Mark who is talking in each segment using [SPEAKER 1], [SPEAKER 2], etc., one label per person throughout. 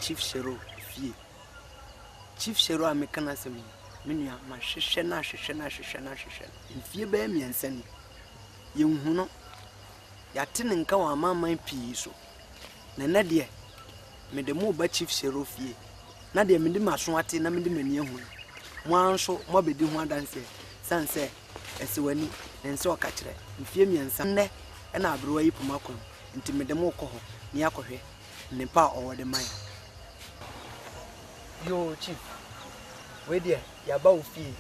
[SPEAKER 1] Chief Shero fie Chief Shero a meka no asɛm yi me nua mahwehwɛ no ahwehwɛ no ahwehwɛ no ahwehwɛ no mfie bɛyɛ mmiɛnsa ni Yɛahu no, yɛate ne nka wɔ amanaman pii so, na ɛnnɛ deɛ, mede mo reba Chief Sero fie, na deɛ mede m'aso ate na mede m'ani ahu no, mo ara nso moabɛdi ho adanseɛ, sane sɛ Ɛsewani ne nsa ɔka kyerɛ. Mfeɛ mmiɛnsa nnɛ na aberewa yi poma kɔ mu, enti mede mo rekɔ hɔ na yɛakɔhwɛ nnepa a ɔwɔ de ma yɛn. Yoo, Chief, wei deɛ, yɛaba wo fie,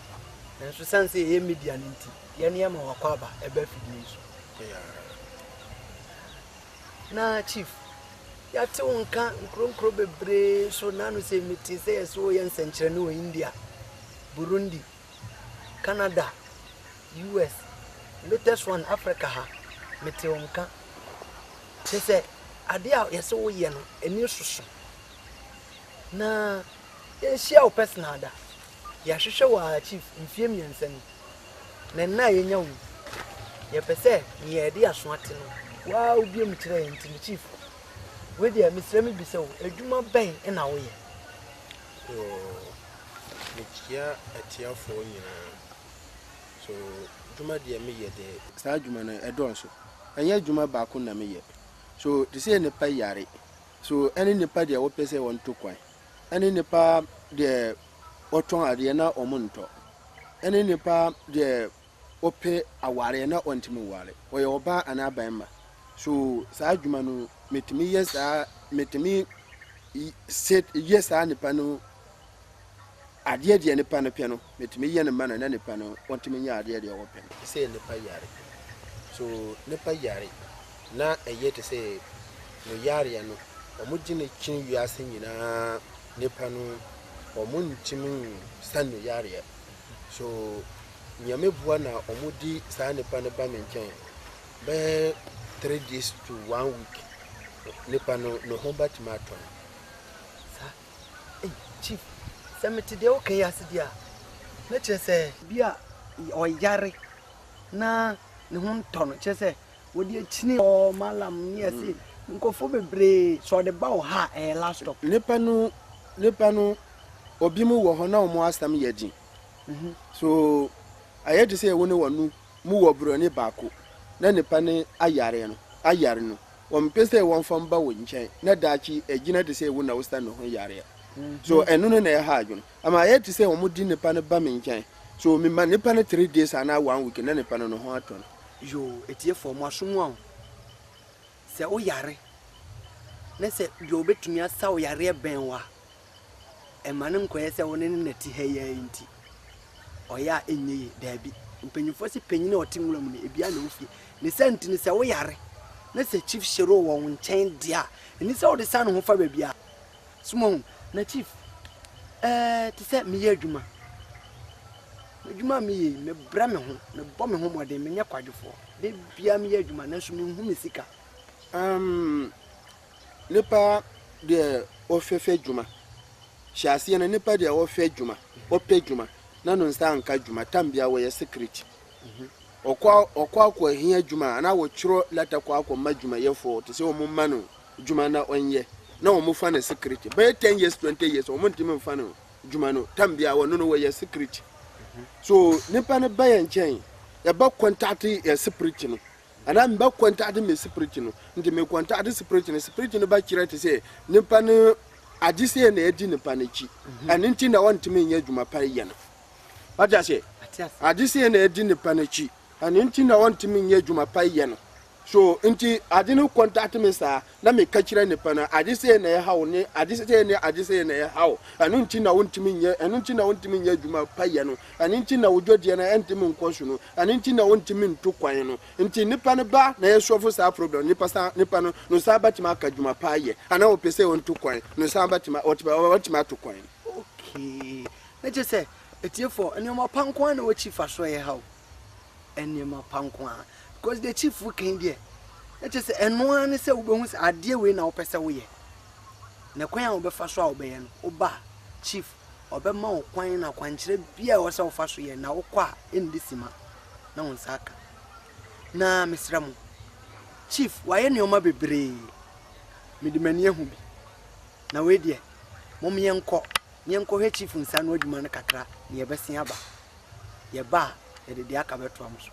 [SPEAKER 1] nanso sane sɛ yɛyɛ Midian nti, yɛ nneɛma wɔ akwaaba ɛbɛ fidie yi so na chief yɛate wo nka nkuronkuro bebree so nano sɛ mete sɛ yɛse woyɛ nsɛnkyerɛnne wɔ india burundi canada us latest one africa ha mete wo nka kyɛ sɛ adeɛ a yɛse woyɛ no ani soso na yɛnhyia wo personal da Yɛahwehwɛ wɔ archives mfeɛ mmiɛnsa ni, na nna a yɛnya wɔ mu, yɛpɛ sɛ nea yɛde aso ate no woaa wobue mu kyerɛ yɛn nti me chief wei deɛ mesrɛ me bisa wo adwuma bɛn na woyɛ? Yoo,
[SPEAKER 2] mekyia atiafoɔ nyinaa. So dwuma deɛ meyɛ deɛ. Saa dwuma no ɛdɔɔso. Ɛnyɛ adwuma baako na meyɛ. So te sɛ nnipa yare. So ɛne nnipa deɛ wɔpɛ sɛ wɔto kwan. ɛne nnipa deɛ wɔtɔn adeɛ na wɔntɔ, ɛne nnipa deɛ wɔpɛ awareɛ na wɔntumi nware, wɔyɛ ɔbaa anaa barima. So saa adwuma no, metumi yɛ saa, metumi y- se yɛ saa nnipa no adeɛ deɛ nnipa no pɛ no. metumi yɛ no ma no na nipa no ɔtumi nyɛ adeɛ deɛ ɔpɛ no. Te sɛ nipa yare so nipa yare na ɛyɛ te sɛ no yareɛ no ɔmo gye no kyin wiase nyinaa nipa no ɔmo ntumi nsa no yareɛ so nyame boa na ɔmo di saa nipa no ba me nkyɛn bɛɛ three days to one week nipa no no ho bɛtumi atɔ no.
[SPEAKER 1] Ei, Chief, sɛ mete deɛ woka yi ase deɛ a, na kyerɛ sɛ. Bi a ɔyare na ne ho ntɔ no, kyerɛ sɛ wɔde akyini hɔ, Mallam ne ɛse nkurɔfoɔ bebree, sɛ ɔde ba wo ha a, ɛyɛ last stop. Nnipa no,
[SPEAKER 2] nnipa no, obinom wɔ hɔ na wɔn asɛm yɛ den. So, ayɛ te sɛ wo ne wɔn mu wɔ borɔni baako na ne pɛ ne ayare no, ayare no. Wɔmpɛ sɛ wɔmfa mba wo nkyɛn na daakye agyina te sɛ wo na wositan ne ho yare a. So ɛno no na ɛha adwene? Ama ayɛ te sɛ wɔde ne pɛ no ba me nkyɛn, so mema ne pɛ no three days anaa one week na ne pɛ no ne ho atɔ no. Yoo, atiefo,
[SPEAKER 1] mo aso mu a o. Sɛ woyare na sɛ deɛ ɔbɛtumi asa wo yareɛ bɛn wo a, ɛma no nkɔyɛ sɛ wo ne no na ɛte ha yi ara nti ɔyɛ a ɛnyɛ yie daabi mpanyinfoɔ sɛ panyin a ɔte nwura mu no ebia na ofie ne sɛ nti no sɛ woyare na sɛ chief hyero wɔ wo nkyɛn deɛ a ɛni sɛ wode sa ne ho fa baabi a soma ho na chief ɛɛ te sɛ meyɛ adwuma adwuma a meyɛ yi mebrɛ me ho mebɔ me ho mmɔden menyɛ kwadwofoɔ da biara meyɛ adwuma nanso menhu me sika um,
[SPEAKER 2] Nipa deɛ ɔhwɛ hwɛ dwuma hyɛ aseɛ no nipa deɛ ɔhwɛ dwuma ɔpɛ dwuma na no nsa nka dwuma tam bia wɔyɛ secret ɔkɔ ɔkɔ akɔ ahia dwuma ana wɔtwerɛ lɛta kɔ akɔ ma dwumayɛfoɔ te sɛ wɔn ma no dwuma na ɔnyɛ na wɔn fa no secret bɛyɛ ten years twenty years wɔn ntumi nfa no dwuma no tam bia wɔn no wɔyɛ secret so nipa no bɛyɛ nkyɛn yɛbɛ contact yɛ secret no. Anaa mebɛ kɔntade me spiriti no, nti me kɔntade spiriti no, spiriti no bɛ kyerɛ te sɛ nipa no ade sɛ na ɛdi nipa no akyi, mhm. ɛno nti na ɔntumi nyɛ adwuma pa yɛ no. Wate aseɛ? Ade sɛ na ɛdi nipa no akyi, ɛno nti na ɔntumi nyɛ adwuma pa yɛ no. So nti ade no kɔntade me saa, na meka kyerɛ nnipa no, ade sei na ɛha wo ne ade sei ne ade sei na ɛha wo, ɛno nti na wontumi nyɛ ɛno nti na wontumi nyɛ adwuma pa yɛ no, ɛno nti na wo dwɔdeɛ no ɛntumi nkɔ so no, ɛno nti na wontumi ntu kwan no. Nti nnipa no ba na yɛsɔfo saa problem no, nnipa san nnipa no no san bɛtumi aka adwuma pa ayɛ, anaa wɔpɛ sɛ wɔntu kwan no san bɛtumi wɔtumi ato kwan. Okay.
[SPEAKER 1] Na kyerɛ sɛ atiefoɔ, nneɛma pa nko ara na wɔakyi fa so a ɛha wo? nneɛma pa nko ara because deɛ chief kan deɛ na kyerɛ sɛ ɛno ara ne sɛ wobɛhu sɛ adeɛ wei na wopɛ sɛ woyɛ na kwan a wobɛfa so a wobɛyɛ no woba chief ɔbɛma wo kwan na kwankyerɛ bia ɛwɔ sɛ wofa so yɛ na wokɔ a ɛndi sima na wo nsa aka na mesrɛ mo chief wayɛ nneɛma bebree mede m'ani ahu bi na wei deɛ mom yɛnkɔ yɛnkɔhwɛ chief nsa ano adwuma no kakra na yɛbɛsen aba yɛba a yɛde deɛ aka bɛtoa mo so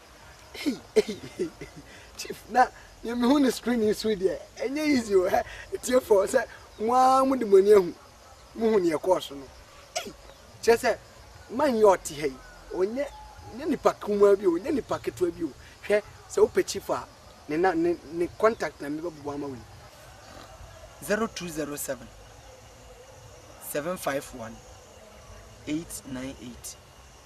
[SPEAKER 1] chief na deɛ mehu ne screen yi so deɛ ɛnyɛ easy o ɛ tiefo sɛ mo ara mo de mo ani ahu mohu neɛ ɛkɔɔ so no kyerɛ sɛ man yi ɔte ha yi ɔnyɛ nyɛ nipa kumaa bi o nyɛ nipa ketewa bi o hwɛ sɛ wopɛ chief a ne na ne ne contact na mebɛbobɔ ama wo yi 0207 751 898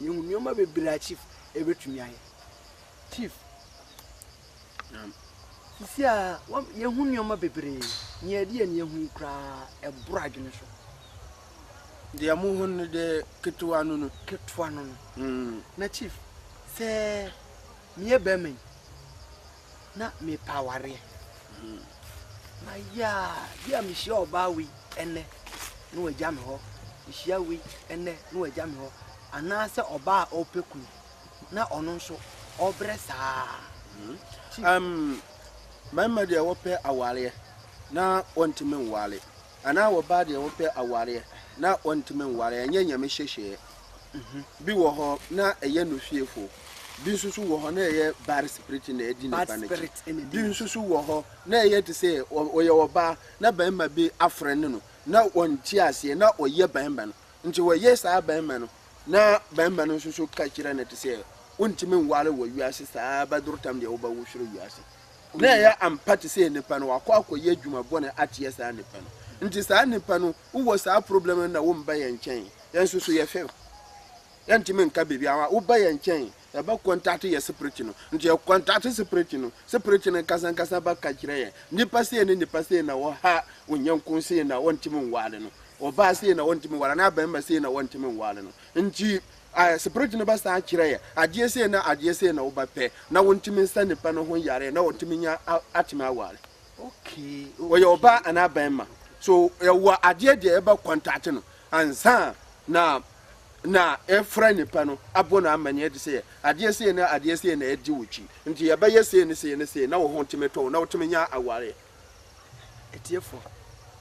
[SPEAKER 1] Yehu nneɛma bebree a chief ebetumi ayɛ. Chief. Naam. Sisi a wɔn yehu nneɛma bebree. Nea ɛde yɛn yehu yi koraa ɛboro adwene so.
[SPEAKER 2] Deɛ mo ho no de ketewa no no. Ketewa no no. Mm.
[SPEAKER 1] Na chief sɛ meyɛ bɛrima yi. na merepɛ awareɛ. Hmm. Na yaa, bi a mehyia ɔbaa wei ɛnɛ na wagya me hɔ, mehyia wei ɛnɛ na wagya me hɔ, anaasɛ ɔbaa a ɔpɛ kunu na ɔno nso ɔbrɛ saa. Hmm. Um,
[SPEAKER 2] mmarima deɛ wɔpɛ awareɛ na wɔntumi nwale. Anaa wɔbaa deɛ wɔpɛ awareɛ na wɔntumi nware ɛnyɛ nyame hyehyeɛ bi wɔ hɔ na ɛyɛ nofiefoɔ bi nso so wɔ hɔ na ɛyɛ bad spirit na ɛdi nipa no akyi bi nso so wɔ hɔ na ɛyɛ te sɛ ɔyɛ ɔbaa na barima bi afrɛ ne no na wɔnte aseɛ na ɔyɛ barima no nti wɔyɛ saa barima no na barima no nso so ka kyerɛ no te sɛ wontumi nware wɔ wiase saa bɛdoro tam deɛ wobɛwo soro wiase na ɛyɛ ampa te sɛ nnipa no wakɔ akɔyɛ adwuma bɔne ateɛ saa nnipa no nti saa nnipa no wowɔ saa problem no na womba yɛn nkyɛn yɛn nso so yɛfɛ yɛntumi nka biribi awa woba yɛn nkyɛn yɛbɛ kɔntate yɛ separate no nti yɛ kɔntate separate no separate no nkasa nkasa ba ka kyerɛ yɛn nnipa sei ne nnipa sei na wɔha onyanko sei na wɔntumi nwaale no ɔbaa sei na wɔntumi nwaale no abɛnma sei na wɔntumi nwaale no nti Ae, spirit no bɛsan akyerɛ yɛ, adeɛ sei ne adeɛ sei na wobɛpɛ, na wontumi nsa nipa no ho yareɛ, na ɔtumi nya atumi aware. Okay.
[SPEAKER 1] Ɔyɛ ɔbaa
[SPEAKER 2] anaa bɛrima. So ɛwɔ adeɛ deɛ ɛbɛ contact no ansa na na ɛfrɛ nipa no abɔ no amanneɛ de sɛ adeɛ sei ne adeɛ sei na ɛdi wo kyi nti yɛbɛyɛ sei ne sei ne sei na wo ho tumi tɔ na wotumi nya awareɛ.
[SPEAKER 1] Ɛtiɛfoɔ,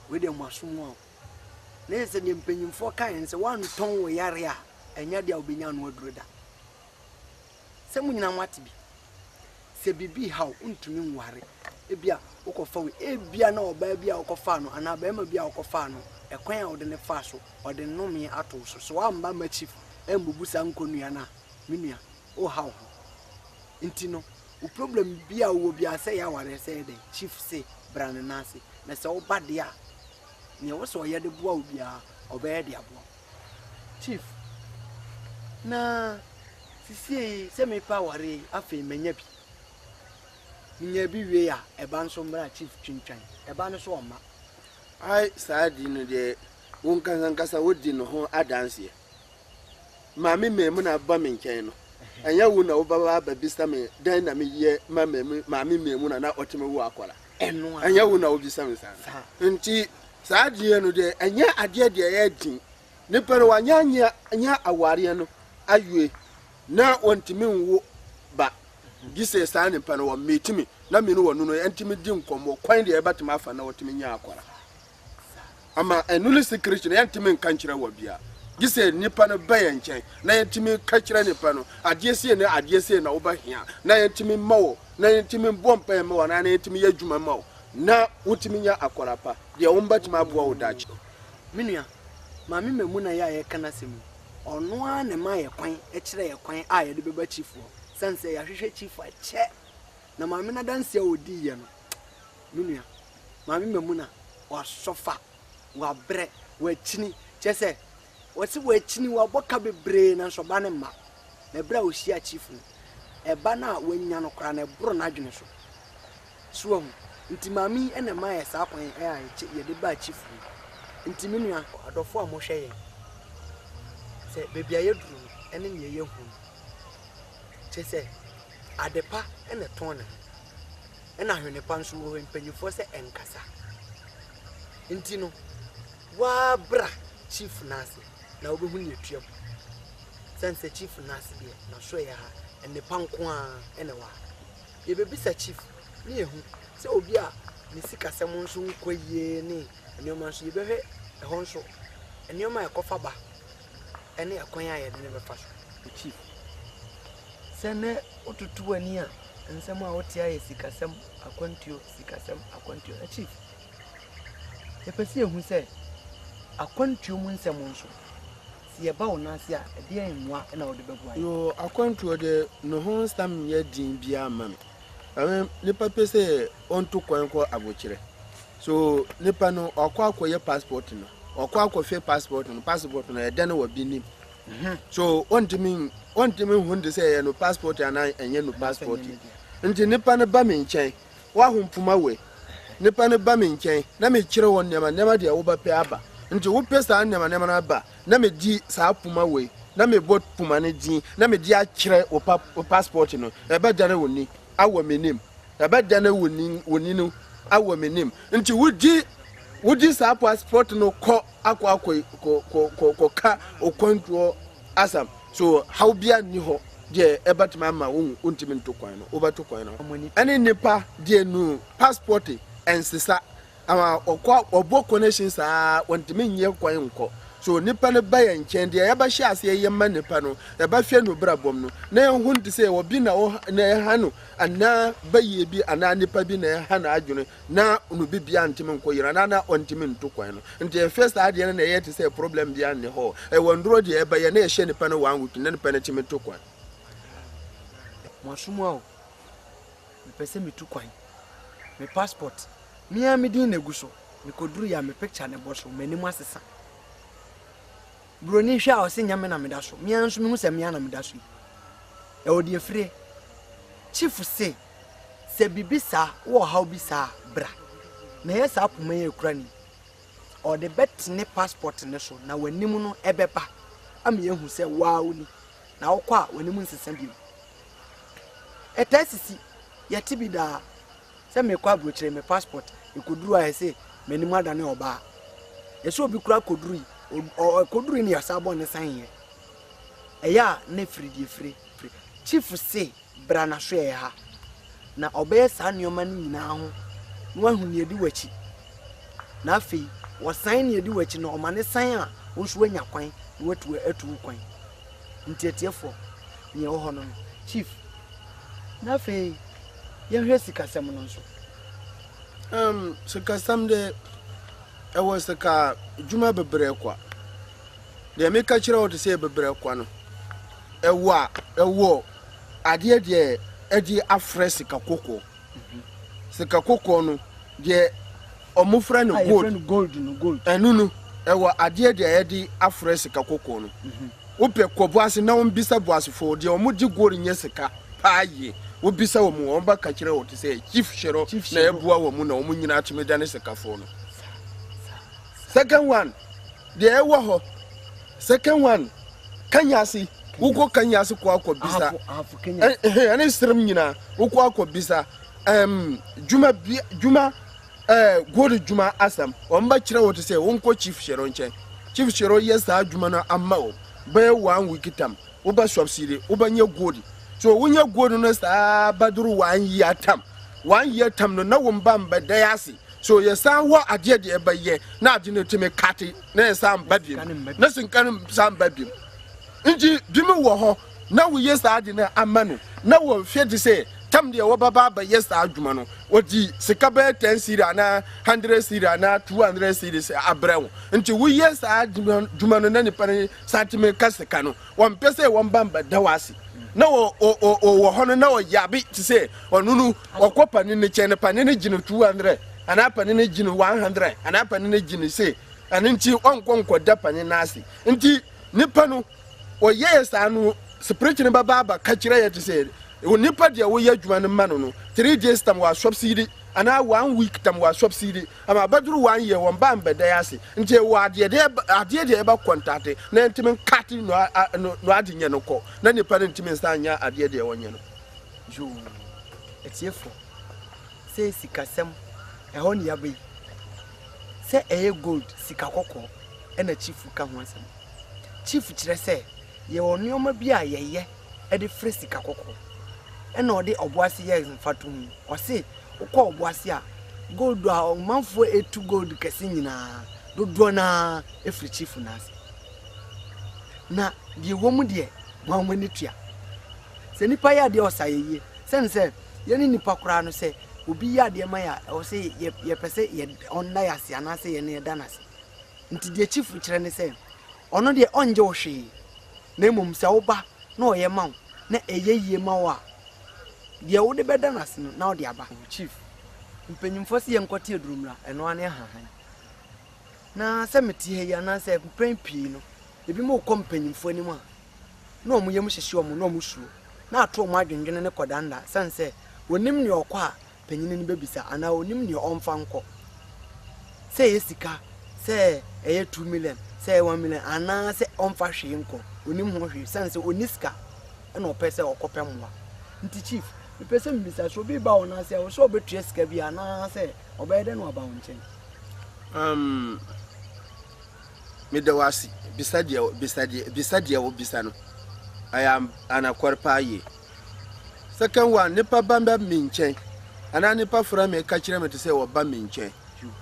[SPEAKER 1] wei deɛ mo asom mu a o. na yɛ sɛ deɛ mpanyimfoɔ kaeɛ no sɛ woantɔn wo yare a ɛnyɛ adeɛ a wobɛnya ano aduro da sɛ mo nyinaa moate bi sɛ biribi ha wo ntumi nware ebia wokɔfa wei ebia na ɔbaa bi a wokɔfaa no anaa barima bi a wokɔfaa no ɛkwan a wode ne faa so ɔde nnome ato so so woamba makyi mbubu saa nkɔnnua no a me nua woha wo ho nti no wo problem bi a wowɔ biara sɛ yɛ awareɛ sɛ yɛ dɛn chief se bra ne nan ase na sɛ woba deɛ a nea ɛwɔ sɛ ɔyɛ de boa wo biara ɔbɛyɛ de aboa chief na sisie yi sɛ mepɛ aware afei manya bi menya bi wie a ɛba nso mmra chief twintwan ɛba no so ɔma ai
[SPEAKER 2] saa di no deɛ wo nkankankasa wodi no ho adanseɛ Maame Maimuna ba me nkyɛn no, ɛnyɛ wo na wobɛba abɛbisa me dɛn na meyɛ ma Maame Maimuna na ɔte me wo akɔla. Ɛnyɛ wo
[SPEAKER 1] na wobisa me
[SPEAKER 2] saa. Nti saa adeɛ no deɛ ɛnyɛ adeɛ deɛ ɛyɛ den. Nipa no wanyɛ anyɛ awareɛ no awie na wɔntumi nwo ba gye sɛ saa nipa no wɔmmeeti me na me ne wɔno no ɛntumi di nkɔmmɔ kwan deɛ ɛbɛtumi afa na wɔtumi nya akɔla. ama ɛno ne secret no yɛntumi nka nkyerɛ wɔ bia gye sɛ nipa no bɛyɛ nkyɛn na yɛntumi ka kyerɛ nipa no adeɛ sei ne adeɛ sei na wobɛhia na yɛntumi ma wo na yɛntumi bɔ mpaeɛ ma wo na yɛntumi yɛ adwuma ma wo na wotumi nya akɔla pa deɛ wɔn bɛtumi aboa wo daakye. me nua
[SPEAKER 1] maame mamu na yɛ a yɛka n'asɛm yi ɔno ara na ɛma yɛ kwan ɛkyerɛ yɛ kwan a yɛde bɛba chief hɔ sane sɛ yɛahwehwɛ chief akyɛ na maame n'adanseɛ a ɔdii yɛ no Me nua, Maame Mamuna wasɔfa, wabrɛ, wakyini. Kyerɛ sɛ wɔsi wakyini, wabɔ ka bebree nanso ɔba no mma. Na ɛberɛ a ɔhyia chief no, ɛba no a wanya no koraa no ɛboro n'adwene so. So wahu? Nti maame yi na ɛma yɛ saa kwan a yɛde baa chief hɔ yi. Nti me nua. Adɔfo a mohwɛ yɛn, sɛ baabi a yɛduru no ne nea yɛahu no, kyerɛ sɛ adepa na ɛtɔn ne ho. ɛna hwene pa nso wɔ hɔ mpanyinfoɔ sɛ ɛnkasa nti no waa bra chief n'ase na wobɛhu ne atua mu sɛn sɛ chief n'ase deɛ na so ɛyɛ ha nnepa nko a ɛna ɛwɔ ha yɛbɛbisa chief ne yɛhu sɛ obi a ne sikasɛm nso nkɔ yie ne nneɛma nso yɛbɛhwɛ ɛhɔ nso nneɛma a ɛkɔfa ba ɛne ɛkwan a yɛde no bɛfa so. Me chief, sɛ nɛ wototo w'ani a nsɛm a wote ayɛ sikasɛm akwantuo sikasɛm akwantuo ɛ chief yɛpɛ sɛ yɛhu sɛ akwantuo mu nsɛm nso sɛ yɛba wo nan ase a ɛdeɛ mmoa na wode bɛboa yɛ. Yoo akwantuo
[SPEAKER 2] deɛ ne ho nsɛm nyɛ den biara mma me. Ɛno nipa pɛ sɛ ɔntu kwan nkɔ abokyerɛ. So nipa no ɔkɔ akɔyɛ passport no ɔkɔ akɔhwɛ passport no passport no ɛdɛ no wɔ bi nim mhm. so ɔntumi ɔntumi hu de sɛ ɛyɛ no passport anaa ɛnyɛ no passport nti nipa no ba me nkyɛn waho mpoma wei nipa no ba me nkyɛn na mekyerɛ wɔ nneɛma nneɛma deɛ wobɛpɛ aba nti wopɛ saa nneɛma nneɛma no aba na medi saa poma wei na mebɔ poma no din na mede akyerɛ wo passport no ɛbɛdane wo ni wɔ m'anim, na bɛdane wo nin wo nini wɔ m'anim. Nti wogye wogye saa passport no kɔ akɔ akɔ kɔ kɔ kɔ kɔka okwantuo asɛm. So haw biara nni hɔ deɛ ɛbɛtumi ama wo wontumi nto kwan no, wobɛto kwan no. Ɛne nnipa deɛ nu passport nsesa Ama wɔkɔ a wɔbɔ connection saa wɔntumi nyɛ kwan nkɔ. So nnipa no ba yɛn nkyɛn, deɛ yɛbɛhyɛ aseɛ yɛ ma nnipa no, yɛbɛhwɛ no brabɔm no, na yɛhu no te sɛ obi na ɔha na ɛha no, anaa bayie bi anaa nnipa bi na ɛha n'adwene na no biribiara ntumi nkɔ yie no, anaa na ɔntumi ntu kwan no. Nti yɛhwɛ saa adeɛ no na ɛyɛ te sɛ problem biara nni hɔ. Ɛwɔ nnuro deɛ ɛbɛyɛ na yɛhyɛ nnipa no one week na nnipa no tumi tu kwan. Mo
[SPEAKER 1] asom a o. mepɛ sɛ metu kwan. Me passport, me ara me din na egu so. Mekɔduruiɛ a, me picture na ɛbɔ so, m'anim asesa. Buroni hwɛ a, ɔse nyɛ me na meda so. Me ara nso mehu sɛ me ara na meda so yi. Ɛwɔ deɛ firie. Chief se, sɛ biribi saa, wowɔ ɔhaw bi saa a, bra. Na ɛyɛ saa poma yi a ɛkura no yi. Ɔde bɛtene passport no so na w'anim no ɛbɛba ama yɛahu sɛ wo ara woni. na wokɔ a w'anim nsesa bio. Ɛtaa sisi, yɛte bi daa sɛ mekɔ aburokyire me passport ɛkɔduru a ɛse m'anim adane ɔbaa. Ɛsɛ obi kura kɔduru yi, ɛkɔduru yi ne yasa abɔ ne san yɛ. Ɛyɛ a na firi deɛ firi firi. Chief se bra na hwɛ yɛn ha, na ɔbɛyɛ saa nneɛma no nyinaa ho na wahu nea edi w'akyi. Na afei wɔsan nea edi w'akyi no, ɔma no san a, wo nso woanya kwan na woatu atu wo kwan. Enti atiefoɔ, nea ɛwɔ hɔ no no. Chief, na afei yɛnhwɛ sikasɛm no nso. Um, sikasɛm
[SPEAKER 2] de, ɛwɔ sika dwuma bebree kwa. Deɛ meka kyerɛ wo te sɛ bebree kwa no, ɛwɔ a, ɛwɔ. Adeɛ deɛ ɛde afrɛ sika kɔkɔɔ, sika kɔkɔɔ no deɛ ɔmo frɛ no gold, ɛno no ɛwɔ adeɛ deɛ yɛde afrɛ sika kɔkɔɔ no. Wopɛ kɔ boase na wombisa boasefoɔ deɛ ɔmo gye gold nyɛ sika paa yie, wobisa ɔmo a ɔmo bɛka kyerɛ wo te sɛ Chief Shero na ɛboa ɔmo na ɔmo nyinaa tumi dane sikafoɔ no. Second one. Deɛ ɛwɔ hɔ, second one, kanyase, wokɔ kanyase kɔ akɔ bisa, ɛne serem nyinaa, wokɔ akɔ bisa, ɛm, dwuma, dwuma, ɛɛ, gold dwuma asɛm, wɔn bɛ kyerɛ wo te sɛ, wonkɔ chief hyɛrɛ nkyɛn, chief hyɛrɛ yɛ saa dwuma no ama wo, bɛyɛ one week tam, wobɛ subsidy, wobɛ nyɛ gold, so wonyɛ gold no saa bɛdoro one year tam, one year tam no na wɔn ba mbɛdɛ ase. So yɛsan hɔ adeɛ deɛ ɛbɛyɛ na ade no tumi kate na yɛsan mba biom na sika no san mba biom nti binom wɔ hɔ na woyɛ saa ade no ama no na wɔhwɛ de sɛ tam deɛ wɔbɛba abɛyɛ saa adwuma no wɔde sika bɛyɛ ten siri anaa hundred siri anaa two hundred siri sɛ abrɛ wo nti woyɛ saa adwuma no na nipa no san tumi ka sika no Wɔmpɛ sɛ wɔn ba mbɛda wo ase. Na ɔwɔ hɔ no na ɔyɛ abe te sɛ ɔno no ɔkɔ panin no kyɛn no panin no gye no 200 anaa panin no gye no 100 anaa panin no gye no se ɛno nti ɔnkɔ nkɔda panin no ase nti nipa no ɔyɛɛ saa no spirit no bɛba aba ka kyerɛ yɛ te sɛ nipa deɛ woyɛ adwuma no ma no no three days tam wɔ asɔpsidi anaa one week tam wɔ asɔpsidi Ama abɛduru wɔn ayɛ wɔn ba mbɛdae ase, ntsi ewɔ adeɛ dɛ adeɛ deɛ eba kɔntate na enntimi nkate no no adze nyɛ no kɔ, na nyimpa no nntimi nnsan nnyɛ adeɛ deɛ ɔnyɛ no. Yoo,
[SPEAKER 1] atiefo, sɛ sikasɛm, ɛhɔ na yɛaba yi. Sɛ ɛyɛ gold, sika kɔkɔɔ, ɛna chief ka ho asɛm. Chief kyerɛ sɛ yɛwɔ nnoɔma bi a yɛyɛ. de fere sika kɔkɔɔ ɛna ɔde ɔboase yɛ mfatoho yi. Ɔse wokɔ ɔboase a gold a ɔmanfoɔ etu gold kɛse nyinaa dodoɔ no ara efiri chief no ase. Na deɛ ɛwɔ mu deɛ mo ara mo ani tua. Sɛ nipa yɛ adeɛ a ɔsa yɛ yie. Sɛne sɛ yɛne nipa koraa no sɛ obi yɛ adeɛ ma yɛ a ɛwɔ sɛ yɛ yɛpɛ sɛ yɛ ɔnda yɛ ase anaasɛ yɛne yɛda no ase. Nti deɛ chief kyerɛ ne sɛ Ɔno deɛ ɔngye wo hwee, na mmom sɛ wo ba na ɔyɛ ma wo na ɛyɛ yie ma wo a, deɛ wode bɛda no ase no na wode aba. Chief, mpanyimfoɔ se yɛnkɔte Adurumira, ɛno ara ne Ahahan. Na sɛ mete ha yi anaasɛ mpɛn pii no, ebinom rekɔ mpanyimfoɔ anim a, na wɔn yam hyehye wɔn, na wɔsuro, na ato wɔn adwendwene ne kɔdandan, ɛsiane sɛ wɔnnim nea ɔkɔ a panyin no bɛbisa anaa ɔnim deɛ ɔmfa nkɔ, sɛ ɛyɛ sika, sɛ ɛyɛ two million, sɛ ɛyɛ one million anaa sɛ ɔmfa hwee nkɔ, ɔnim ho hwee sane sɛ ɔni sika ɛna ɔpɛ sɛ ɔkɔpɛ mmoa. Nti chief, mepɛ sɛ mbisa sɛ obi ba wɔn ase a, ɔsɛ ɔbɛtua sika bi anaa sɛ ɔbɛyɛ dɛ na waba wɔn nkyɛn? Um,
[SPEAKER 2] meda wo ase bisa deɛ bisa deɛ bisa deɛ wobisa no ɛyɛ anakware paa yie Second one, nipa ba ba mi nkyɛn anaa nipa fura mi ka kyerɛ mi te sɛ ɔba mi nkyɛn.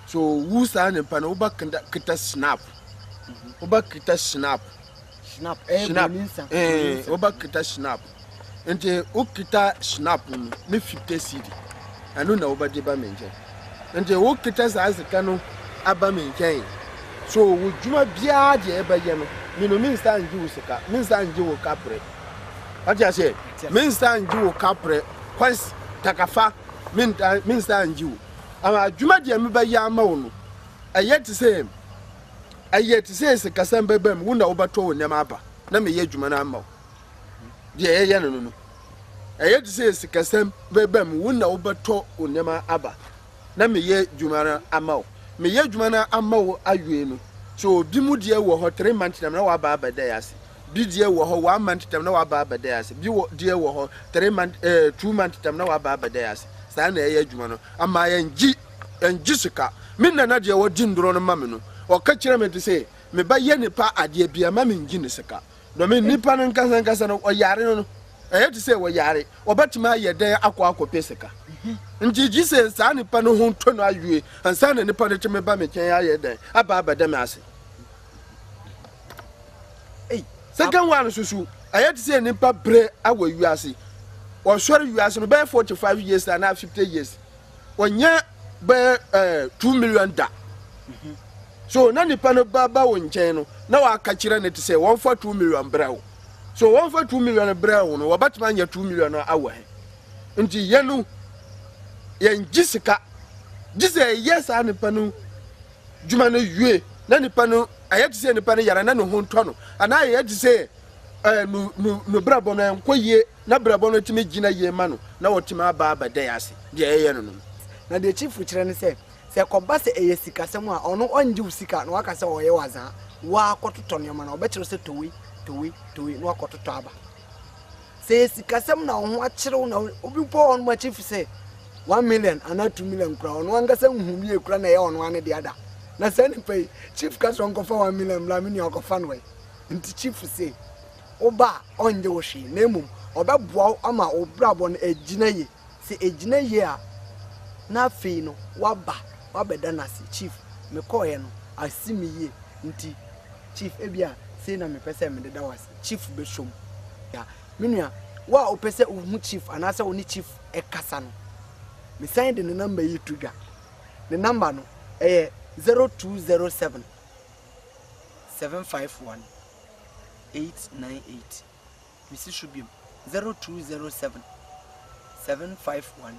[SPEAKER 2] So wu saa nipa no woba kita snap. Woba kita snap. Snap. Eh, snap. Eh, woba kita snap. Nti wo kita snap no ne 50 cedi. Ɛno na woba de ba mi nkyɛn. Nti wo kita saa sika no aba mi nkyɛn. So wo dwuma biara deɛ ɛbɛyɛ no, mino mi nsa ngye wo sika, mi nsa ngye wo kapre. wate aseɛ mensa ngye wo kaprɛ kwansi takafa mensa ngye wo ama adwuma deɛ mebɛyɛ ama wo no ɛyɛ te sɛ ɛyɛ te sɛ sikasɛm bɛba mu wo na wobɛtɔ wo nneɛma aba na meyɛ adwuma no ama wo deɛ ɛyɛ no no no ɛyɛ te sɛ sikasɛm bɛba mu wo na wobɛtɔ wo nneɛma aba na meyɛ adwuma no ama wo meyɛ adwuma no ama wo awie no so obi mu deɛ wɔ hɔ three months na mena waba abɛda yɛ ase Bi deɛ wɔ hɔ one month tam na waba abɛda ase. Bi wɔ deɛ wɔ hɔ three month ɛɛ eh, two month tam na waba abɛda ase. Saa na ɛyɛ adwuma no. Ama yɛngye yɛngye sika. Me nana deɛ wɔgye nnuro no ma me no, ɔka kyerɛ me sɛ me ba yɛ nipa adeɛ bia ma mengye ne sika. Na me nipa no nkasa nkasa no ɔyare no no ɛyɛ te sɛ wɔyare ɔbɛtumi ayɛ dɛn akɔ akɔpɛ sika. Nti gye sɛ saa nipa no ho tɔ no awie ansa na nipa no tumi ba me kyɛn ayɛ dɛn aba abɛda me ase. Second one nso so ɛyɛ te sɛ nipa brɛ wɔ wiase wɔsɔre wiase no bɛyɛ forty five years na na fifty years wɔnyɛ bɛyɛ ɛɛ two million da so na nipa no ba ba wɔn nkyɛn no na wɔaka kyerɛ ne te sɛ wɔn fa two million brɛ wo so wɔn fa two million brɛ wo no wɔbɛtuma nyɛ two million no awɔ he nti yɛn no yɛn gye sika gye sɛ ɛyɛ saa nipa no dwuma no wie na nipa no. ayɛ te sɛ nipa no yare na ne ho ntɔ no anaa ayɛ te sɛ ɛɛ no no no brabɔ no nkɔ yie na brabɔ no tumi gyina yie ma no na ɔtumi aba abɛda yɛ ase deɛ ɛyɛ no no. Na deɛ chiefo
[SPEAKER 1] kyerɛ ne sɛ, sɛ ɛkɔba sɛ ɛyɛ sikasɛm a, ɔno ɔngye wo sika na waka sɛ ɔyɛ w'azaa, woaa kɔtotɔ nneɛma no a, ɔbɛkyerɛ wo sɛ tɔ wei, tɔ wei, tɔ wei na woakɔtotɔ aba. Sɛ ɛyɛ sikasɛm na wo ho akyere wo na obi mpo wɔ hɔ nom akyi mfe sɛ one million anaa two million koraa ɔno ankasa nhu wie koraa na ɛyɛ ɔno ara ne dea da. Na saa nipa yi, chief ka sɛ ɔnkɔfa one million mmra me nua ɔkɔfa no ɛ. Nti chief se woba a ɔnnyɛ wo hwee na mmom ɔbɛboa wo ama wo brabɔ no agyina yie. Sɛ ɛgyina yie a na afei no woaba woabɛda no ase, chief mekɔeɛ no asi me yie nti chief ebia sei na mepɛ sɛ mede da wo ase. Chief bɛsom. Yeah. Me nua, wo a wopɛ sɛ wohu Chief anaasɛ wo ne Chief kasa no, mesan de ne namba yi to dwa. Ne namba no, ɛyɛ 0207 751 898. Mesi so biom, 0207 751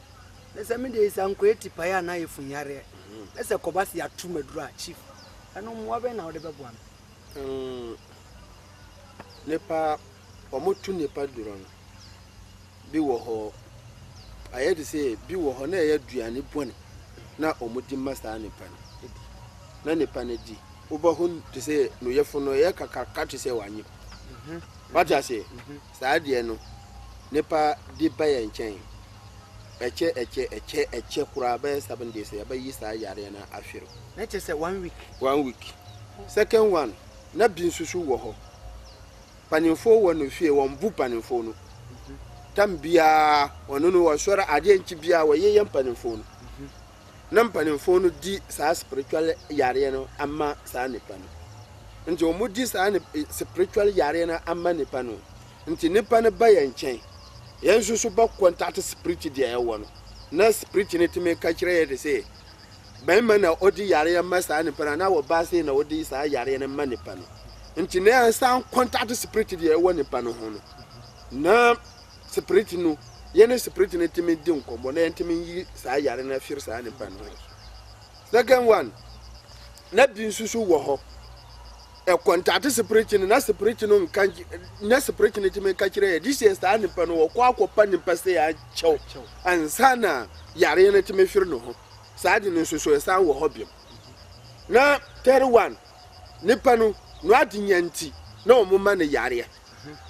[SPEAKER 1] na sɛ me deɛ sankoe tipaeɛ anaa efunyareɛ na sɛ kɔba se ato maduru a chief ɛno mmoa bɛn na wode bɛboa me mm,
[SPEAKER 2] nipa wɔn tu nipa duro no bi wɔ hɔ ayɛ de sɛ bi wɔ hɔ na ɛyɛ aduane bɔne na wɔn di ma saa nipa no na nipa no di wobɛho te sɛ no yɛfo no ɛyɛ kakaraka te sɛ wanyem mhm. wate aseɛ mhm. Saa deɛ no nipa de ba yɛn nkyɛn ɛkyɛ ɛkyɛ ɛkyɛ ɛkyɛ koraa bɛyɛ seven days yɛbɛyi saa yareɛ no ahwere. Na kyɛ sɛ one week.
[SPEAKER 1] One week
[SPEAKER 2] second one na bi nso so wɔ hɔ panimfoɔ wɔ no fie wɔn bu panimfoɔ no tam biara wɔn no wɔsɔre adeɛ nkyi biara wɔyeyɛ mpanimfoɔ no na mpanimfoɔ no di saa spiritual yareɛ no ama saa nipa no nti wɔn di saa ne eh, spiritual yareɛ no ama nipa no nti nipa no ba yɛn nkyɛn yɛn nso so bɛ contact spirit deɛ ɛwɔ no na spirit no tumi ka kyerɛ yɛ de sɛ bɛrima na ɔdi yareɛ ma saa nipa no anaa ɔbaa sei na ɔdi saa yareɛ no ma nipa no nti na yɛn san contact spirit deɛ ɛwɔ nipa no ho no na. Spirit no, yɛne Spirit no tumi di nkɔmmɔ na yɛntumi nyi saa yare no afiri saa nipa no ho. Second one, na bi nso so wɔ hɔ. Ɛkɔntate Spirit no na Spirit no nka na Spirit no tumi nka kyerɛ yɛ de sɛ saa nipa no wɔkɔ akɔpa nipa sɛ akyɛw ansa na yare no tumi firi no ho. Saa de no nso so ɛsan wɔ hɔ biom. Na third one, nipa no no ade nya nti na wɔn ma no yareɛ.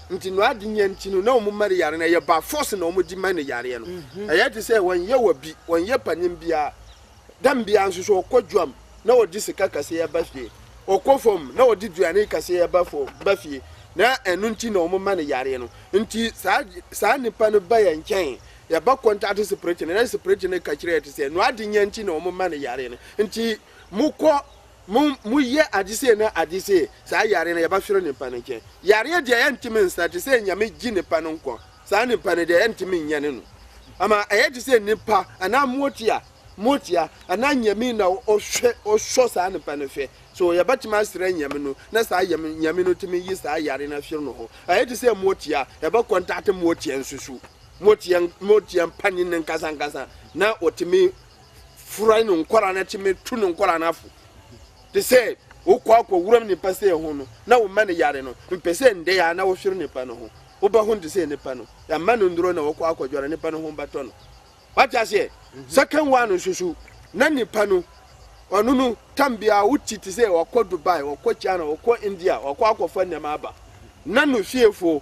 [SPEAKER 2] Nti no ade nya nti no na wɔn mma no yare no ɛyɛ by force na wɔn de ma no yareɛ no. Ɛyɛ te sɛ wɔn yɛ wa bi, wɔn yɛ panin biara. Dam biara nso so ɔkɔ dwam na ɔde sika kaseɛ ba fie. Ɔkɔ fam na ɔde duane kaseɛ ba fo ba fie. Na ɛno nti na wɔn ma no yareɛ no. Nti saa saa nipa no ba yɛn nkyɛn, yɛba contact spirit no na spirit no ka kyerɛ yɛ te sɛ no ade nya nti na wɔn ma no yareɛ no. Nti mokɔ Mo mo yɛ ade sei ne ade sei, saa yare no yɛba hwere nipa no nkyɛn. Yareɛ deɛ yɛntumi nsra te sɛ nyame gye nipa no nkwa. Saa nipa no deɛ yɛntumi nyɛ ne no. Ama ɛyɛ te sɛ nipa anaa motia motia anaa nyame na ɔhwɛ ɔsɔ saa nipa no hwɛ. So yɛbɛtumi asra nyame no na saa yam nyame no tumi yi saa yare no ahwere no hɔ. Ɛyɛ te sɛ motia yɛbɛ kɔntate motia nsusu motia motia mpanin no nkasa nkasa na ɔtumi fura no nkwadaa no akyi metu no nkwadaa no afo te sɛ wokɔ akɔ wuram nipa sɛ ho no na woma no yare no mpɛ sɛ ndɛ yɛ a na wohwere nipa no ho wobɛ ho te sɛ nipa no yɛama no nduro na wɔkɔ akɔdware nipa no ho bɛtɔ no wate aseɛ mhm. second one nso so na nipa no ɔno no tam biara woti te sɛ wɔkɔ dubai wɔkɔ china wɔkɔ india wɔkɔ akɔfa nneɛma aba na no fiefo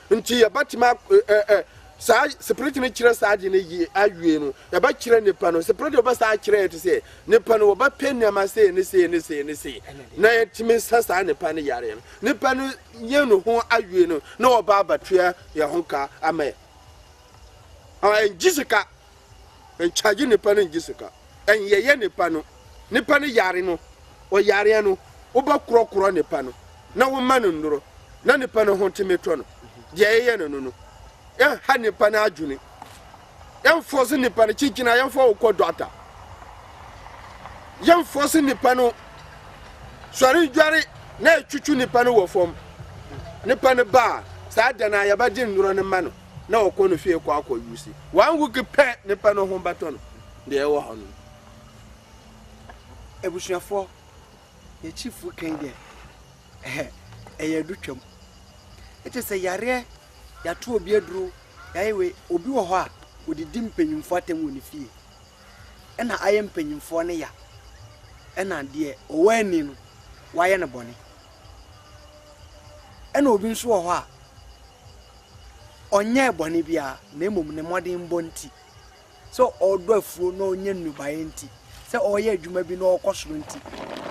[SPEAKER 2] Nti yɛbɛtumi ak ɛ ɛ saa Spirit no kyerɛ saa ade no yie awie no, yɛbɛkyerɛ nipa no, Spirit no bɛsa akyerɛ yɛ te sɛ nipa no wɔbɛpɛ nneɛma sei ne sei ne sei ne sei na yɛtumi sa saa nipa no yareɛ no. Nipa no yɛ ne ho awie no na wɔba abɛtoa yɛn ho ka ama yɛ. Ɔn ɛngye sika. Nkyagye nipa no ngye sika. Nyɛyɛ nipa no. Nipa no yare no, ɔyareɛ no, wobɛkorɔkorɔ nipa no na woma no nnuro na nipa no ho tumi tɔ no. Deɛ yɛyɛ no no no. Yɛnha nipa no adwene. Yɛnfɔse nipa no kyekyena a yɛmfa wo kɔ dɔkta. Yɛnfɔse nipa no sɔre ndware na yɛtwitwi nipa no wɔ fam. Nipa no ba a, saa da no a yɛbɛgye nnuro no ma no. na ɔkɔ ne fie kɔ akɔ use one week pɛ ne pɛ no ho bɛtɔ no deɛ ɛwɔ hɔ no
[SPEAKER 1] abusuafoɔ yɛ chief kan deɛ ɛhɛ ɛyɛ adu twam ɛkyɛ sɛ yareɛ yɛato obi aduro yɛayɛ wei obi wɔ hɔ a ɔdidi mpanyimfoɔ atɛm wɔ ne fie ɛna ayɛ mpanyimfoɔ no ya ɛna deɛ ɔwɔ ani no wayɛ no bɔne ɛna obi nso wɔ hɔ a Ɔnyɛɛ bɔne biara, na mmom ne mmɔdenbɔ nti, sɛ ɔredɔ afuo na ɔrenya nnɔbaeɛ nti, sɛ ɔreyɛ adwuma bi na ɔrekɔ soro nti,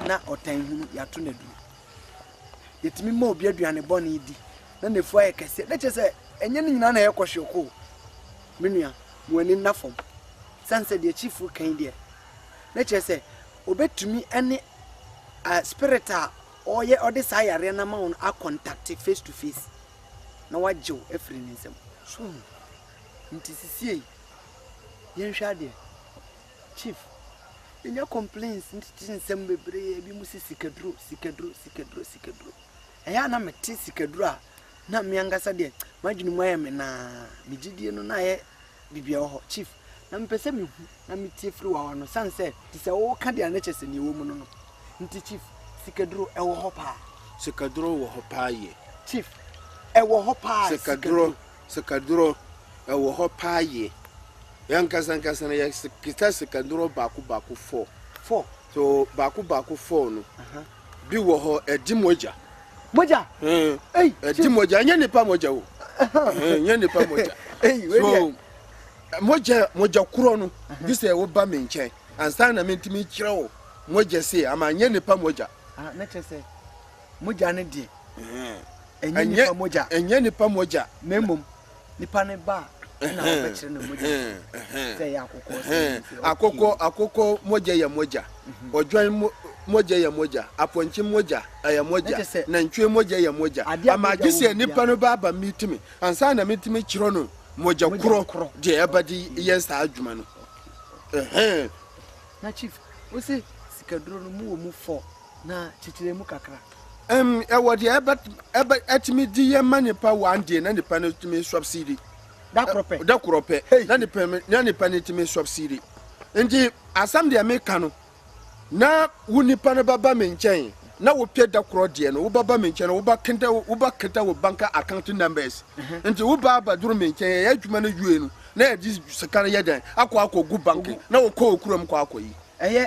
[SPEAKER 1] na ɔtan hunu, yɛato no aduro. Yɛtumi ma obi aduane bɔne di, na n'afuo ayɛ kɛseɛ. Na kyerɛ sɛ, ɛnyɛ ne nyinaa na ɛyɛ kɔhweoko o. Me nua, mo ani nna fam. Sane sɛ deɛ Chief reka yi deɛ, na kyerɛ sɛ, ɔbɛtumi ne spirit a ɔyɛ ɔde saa yareɛ no ama wo no akɔntakte face to face. na wagye wo afiri ne nsam. So hu? Nti sisiei, yɛnhwɛ adeɛ. Chief, yɛnya complaints ntete nsɛm bebree, ebi mu sɛ sikaduro, sikaduro, sikaduro, sikaduro. Ɛyɛ a na mete sikaduro a, na me ankasa deɛ, m'adwene mu ayɛ me naa, me gyidie no na ayɛ biribi a ɛwɔ hɔ, Chief, na mepɛ sɛ mihu na mitie firi w'ano esiane sɛ ɛte sɛ woreka deɛ a na kyerɛ sɛ nea ɛwɔ mu no no nti, Chief, sikaduro, ɛwɔ hɔ paa? Sikaduro wɔ hɔ
[SPEAKER 2] paa yie.
[SPEAKER 1] Chief, Ɛwɔ hɔ paa, sikaduro. Sikaduro,
[SPEAKER 2] ɛwɔ hɔ paa yie. Yɛn ankasa ankasa no, yɛkita sikaduro baako baako four. Four? So, baako baako four no, bi wɔ hɔ ɛdi mogya. mogya. ɛdi mogya ɛnyɛ nipa mogya o ɛnyɛ nipa mogya so mogya mogya korɔ no gye sɛ woba me nkyɛn ansa na mentumi kyerɛ wo mogya se ama nyɛ nipa mogya. Ah, na kyerɛ sɛ
[SPEAKER 1] mogya no deɛ ɛnyɛ nipa mogya ɛnyɛ nipa mogya na
[SPEAKER 2] mmom
[SPEAKER 1] Nipa ne ba a, ɛna wɔbɛkyerɛ no mogya so sɛ ɛyɛ akokɔ sɛ ɛyɛ nti. Akokɔ akokɔ
[SPEAKER 2] mogya yɛ mogya. Mhm. Odwan mo mogya yɛ mogya. Apɔnkye mogya ɛyɛ mogya. Nantwie mogya yɛ mogya. Ama agye sɛ nipa no ba aba mitumi ansa na mitumi kyerɛ no mogya korɔ deɛ ɛbɛde yɛ saa adwuma no.
[SPEAKER 1] Na chief, wose sikaduro no mu wɔ mu fɔ. Na titire mu kakra. Ɛm, ɛwɔ deɛ
[SPEAKER 2] ɛbɛ, ɛbɛ, ɛtumi di yɛ ma nipa one day na nipa no tumi subsidi. Da korɔ pɛ. Da korɔ pɛ. Hey. Na nipa, na nipa no tumi subsidi. Nti asɛm deɛ meka no, na wo nipa no bɛba me nkyɛn na wopɛ da korɔ deɛ no, wobɛba me nkyɛn na wobɛketa, wobɛketa wo bank account numbers. Nti wo baa bɛduru me nkyɛn, yɛyɛ adwuma no wie no, na yɛde sika no yɛ dɛn? Akɔ akɔgu bank, na wokɔ wo kurom kɔ akɔyi. Ɛyɛ.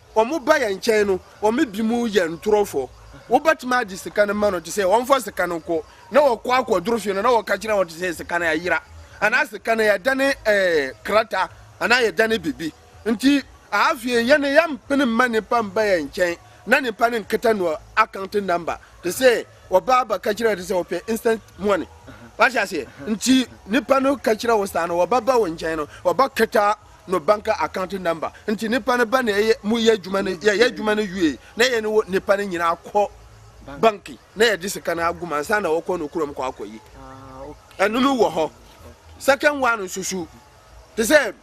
[SPEAKER 2] Wɔba yɛn nkyɛn no, wɔn binom yɛ ntorofo. Wobɛtumi agye sika no ma no te sɛ wɔmfa sika no nkɔ, na wɔkɔ akɔdoro fie no na wɔka kyerɛ wɔn te sɛ sika no ayera, anaa sika no yɛdane ɛɛ krataa, anaa yɛdane biribi. Nti, afei yɛn no yɛmpene mma nnipa mba yɛn nkyɛn na nnipa no nketa no account number te sɛ wɔba abɛka kyerɛ te sɛ wɔpɛ instant money. Wate aseɛ? Nti, nnipa no ka kyerɛ wo saa no, wɔbɛba wo nkyɛn no, wɔbɛketa no bank account number nti nipa no ba na ɛyɛ mu yɛ adwuma no yɛ yɛ adwuma no wie na yɛ ne wɔ nipa no nyinaa kɔ bank na yɛde sika no agum ansa na wɔkɔ no kurom kɔ akɔyi ɛno no wɔ hɔ second one nso so te sɛ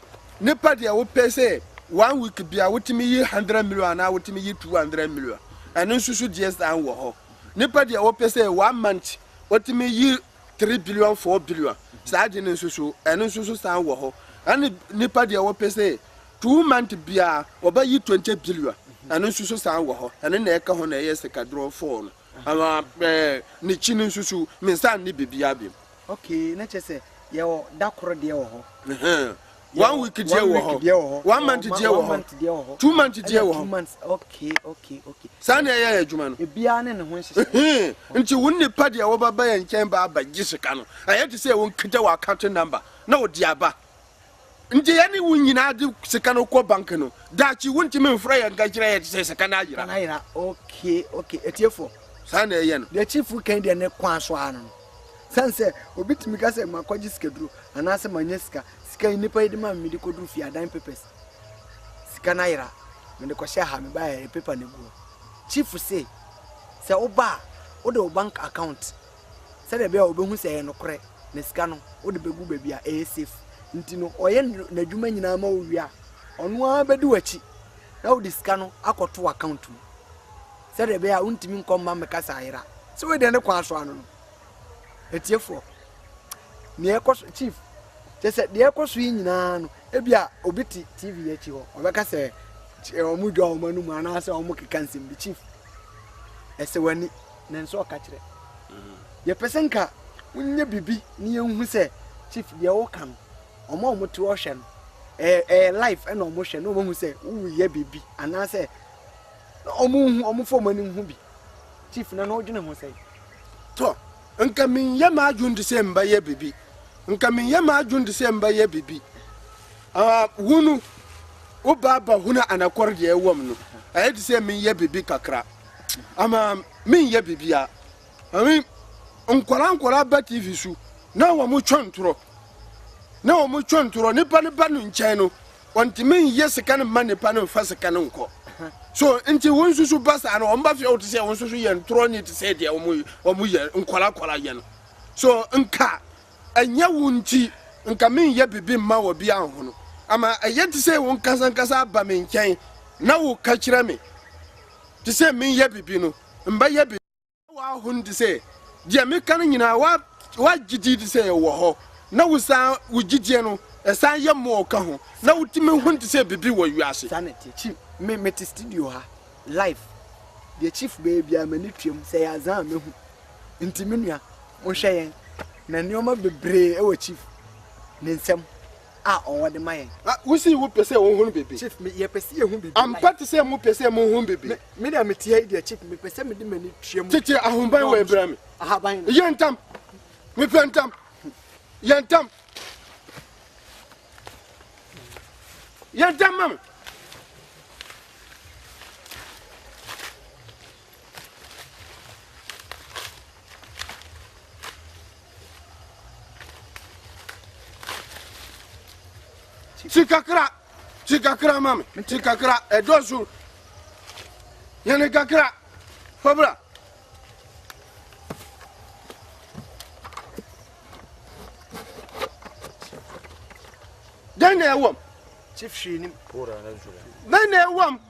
[SPEAKER 2] nipa deɛ wopɛ sɛ one week bia wotumi yi hundred million anaa wotumi yi two hundred million ɛno nso so deɛ san wɔ hɔ nipa deɛ wopɛ sɛ one month wotumi yi three billion four billion saa de no nso so ɛno nso so san wɔ hɔ ɛne nipa deɛ wɔpɛ sɛ two month biara wɔbɛyi twenty billion ɛno nso so san wɔ hɔ ɛno na ɛka ho na ɛyɛ sikadorɔ four no ama ɛɛ ne kyi no nso so mensa ne biribiara bi. okay na kyerɛ sɛ
[SPEAKER 1] yɛwɔ da koro deɛ wɔ hɔ. one
[SPEAKER 2] week deɛ wɔ hɔ one month deɛ wɔ hɔ two month deɛ wɔ hɔ
[SPEAKER 1] saa na
[SPEAKER 2] ɛyɛ adwuma no
[SPEAKER 1] nti wo nnipa
[SPEAKER 2] deɛ wɔbɛba yɛ nkyɛn ba aba gye sika no ɛyɛ te sɛ ɛwɔ nkita wɔ account number na wɔde aba nti yɛne wo nyinaa de sika no kɔ bank no daakye wontumi mfrɛ yɛ nka kyerɛ yɛ te sɛ sika no ayera
[SPEAKER 1] saa na ɛyɛ no
[SPEAKER 2] deɛ
[SPEAKER 1] chief kan deɛ ne kwan so
[SPEAKER 2] ano no
[SPEAKER 1] Esiane sɛ obi tumi ka sɛ makɔgye sikaduro anaasɛ manya sika, sika yi nnipa yi de ma me mede kɔduru fie a dan papers sika no ayera, mede kɔhyɛ ha mebaeɛ a yɛde paper no agu hɔ. Chief se sɛ woba a wode wo bank account sɛdeɛ ɛbɛyɛ a wɔbɛhu sɛ ɛyɛ nokorɛ na sika no wode bɛgu baabi a ɛyɛ safe. Nti no ɔyɛ n'adwuma nyinaa ma wo wie a, ɔno ara bɛdi w'akyi na wode sika no akɔto w'account mu. sɛdeɛ ɛbɛyɛ a wontumi nkɔ mma mmɛka saa yera sɛ wei deɛ ne kwan so ano no atiefoɔ nea ɛkɔ so chief kyɛ sɛ deɛ ɛkɔ so yi nyinaa no ebi a obi te tv akyi hɔ ɔbɛka sɛ wɔn dwa wɔn anum anaasɛ wɔn keka nsɛm bi chief ɛsɛ w'ani na nso ɔka kyerɛ yɛpɛ sɛ nka wonyɛ biribi ne yɛnhu sɛ chief deɛ woka no wɔn a wɔte ɔhwɛ no ɛyɛ life ɛna wɔhwɛ na wɔhu sɛ woyɛ biribi anaasɛ na ɔmo nhu ɔmo fa ɔmo anim ho bi chief na na ɔdwene ho sɛn. tɔ
[SPEAKER 2] nka menyɛ m'adwene de sɛ mbɛyɛ bibi nka menyɛ m'adwene de sɛ mbɛyɛ bibi ah wunu wo baaba hunu anakɔre deɛ ɛwɔm no ɛyɛ de sɛ menyɛ bibi kakra ama menyɛ bibi a ɛmi nkɔla nkɔla ba tv su na wɔn twɛn torɔ na wɔn twɛn torɔ nipa ne ba no nkyɛn no. Wɔntumi nyɛ sika no mma nnipa no mfa sika no nkɔ. So nti wo nso so ba saa no, wɔn ba fie a wote sɛ wɔn nso so yɛ ntorɔ ne te sɛ deɛ wɔn wɔn yɛ nkɔla kɔla yɛ no. So nka ɛnyɛ wo nti nka menyɛ biribi mma wɔ bi anhono. Ama ɛyɛ te sɛ wo nkasa nkasa aba me nkyɛn na woka kyerɛ me te sɛ menyɛ biribi no, mbɛyɛ biribi. W'ahonu te sɛ deɛ meka no nyinaa, w'agye di te sɛ ɛwɔ hɔ, na wo saa wo gyidie no ɛsan yɛ more ka ho, na wo tumi hunu te sɛ biribi wɔ wiase. Saa na ɛteɛ chief me
[SPEAKER 1] me te studio ha live deɛ chief bɛyɛ biara m'ani tuam sɛ ɛyɛ azan a mɛhu nti me nua mo nhwɛ yɛn na nnoɔma bebree ɛwɔ chief ne nsam a ɔwɔ de ma yɛn. Ah, wo se wo pɛ sɛ
[SPEAKER 2] wo hun bibi? Chief, me, yɛ pɛ sɛ yɛ hun
[SPEAKER 1] bibi. Ampa te sɛ mo pɛ sɛ
[SPEAKER 2] mo hun bibi. Me, me nea me te ha yi deɛ,
[SPEAKER 1] Chief, me pɛ sɛ me de m'ani tua mu. Tete ahoban wɔ
[SPEAKER 2] ebira me. Ahaban no. Yɛ ntam. Me pɛ ntam. Yɛ ntam. Yɛ ntam ma me. Ti kakra, ti kakra ma me, ti kakra, ɛdɔ so. Yɛne kakra, fabra. Dɛn na ɛwɔm?
[SPEAKER 3] Bɛn na ɛwɔm?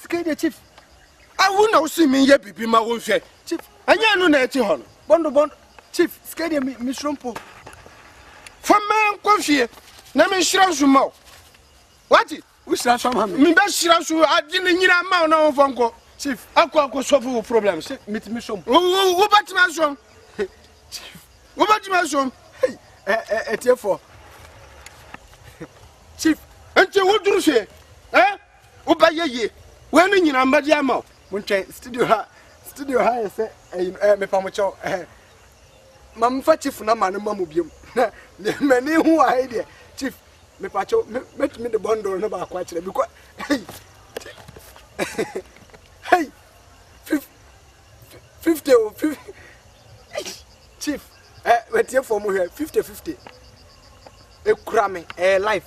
[SPEAKER 1] sika deɛ chief awo na
[SPEAKER 2] wosi mi yɛ biribi ma wo nhwɛ chief ɛnyɛ ɛno na
[SPEAKER 1] ɛte hɔ
[SPEAKER 2] no bɔndo bɔndo chief
[SPEAKER 1] sika deɛ mi soro mpo fa
[SPEAKER 2] mɛ nkɔ fie na mi nhyira nso ma o wati wohyira nso ama
[SPEAKER 1] mi mi bɛ hyira nso
[SPEAKER 2] adi ne nyina ma o na wɔn fɔ nkɔ chief akɔ akɔ
[SPEAKER 1] sɔfo wo
[SPEAKER 2] problem sɛ mi ti mi sɔm wo wo
[SPEAKER 1] wo bɛ tuma
[SPEAKER 2] sɔm chief wo bɛ tuma sɔm ɛ ɛ ɛ tiɛ
[SPEAKER 1] fɔ chief nti wo duru
[SPEAKER 2] fie ɛ. Eh? Wobɛyɛ yie. Wei ne nyinaa mmɛde ama o. Mo ntwɛn studio ha
[SPEAKER 1] studio ha yɛ sɛ ɛyi no ɛɛ mepa mo kyɛw ɛhɛ. Ma mfa chief namba no ma mo biom. Na m'ani ho wɔ ha yi deɛ chief mepa kyɛw me mɛtumi de bundle no baako akyerɛ because hey hey fif fifty o fif chief ɛ wɛtie fɔm hwɛ fifty fifty ekura me ɛɛ life.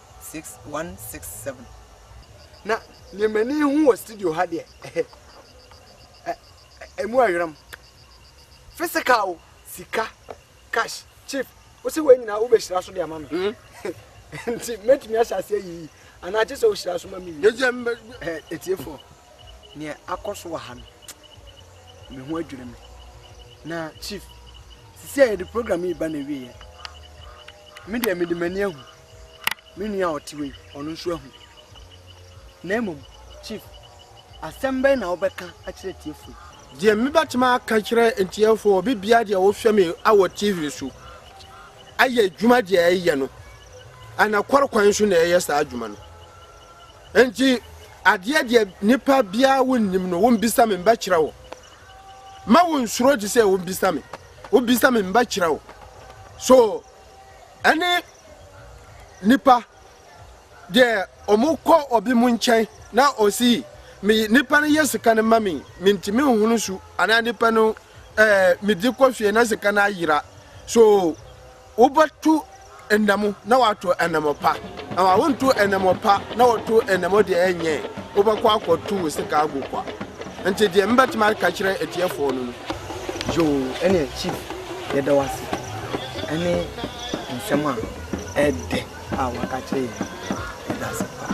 [SPEAKER 1] six one six seven. Na nea m'ani hu wɔ studio ha deɛ ɛhɛ ɛ ɛmu ayram physical sika cash chief wosi wei nyinaa wobɛhyira so de ama me hmm? nti mɛtumi ahyɛ ase ayiyi anaa kye sɛ wohyira so ma me yi ɛtiefoɔ neɛ akɔ so wɔ ha no me ho adwiri me na chief sisi a yɛde program yi ba na awieɛ me deɛ mede m'ani ahu me nua a ɔte hɔ yi, ɔno nso ahu. Na mmom, Chief, asɛm bɛn na wobɛka akyerɛ atiefo yi? Deɛ mebɛtumi
[SPEAKER 2] aka kyerɛ atiefo, obi bia deɛ wohwɛ me awɔ TV so ayɛ adwuma deɛ ɛyɛ no, anakɔre kwan so na ɛyɛ saa adwuma no. Enti adeɛ deɛ nipa biara wonnim no, wombisa me mbɛkyerɛ wo. Ma wonsuro te sɛ wombisa me, wobisa me mbɛkyerɛ wo. So ɛne nnipa deɛ wɔn kɔ obi mu nkyɛn na ɔsi me nipa no yɛ sika no ma me mentumi nhunu su anaa nipa no ɛɛ eh, medi kɔ fie na sika no ayera so wobɛtu nnam na wato nnam pa na wawonto nnam pa na wɔto nnam deɛ ɛnyɛ wobɛkɔ akɔto wo sika agu kwa nti deɛ mbɛtumi aka kyerɛ atiefoɔ no no Yoo
[SPEAKER 1] ɛne chief yɛda wo ase ɛne nsɛm a ɛdɛ a waka kyerɛ yɛn yɛda ase paa.